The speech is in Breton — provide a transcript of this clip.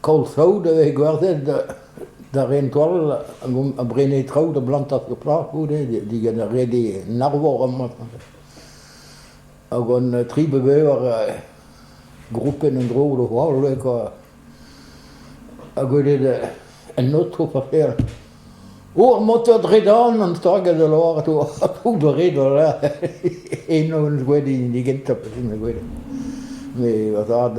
Koll saout a vez gwerzhet da ren koll ha brenañ traoù da blantañ sur plas goude digant ar re en arvor amañ. Hag hon tri be bevar groupenn en-dro d'o holl kwa. Ha gwelet un aoto paper. O, ar motor dredan an stagad a lavaret oa tout re da lec'h. Eno on gwelet hini gentañ pezh on gwelet. Met va zad...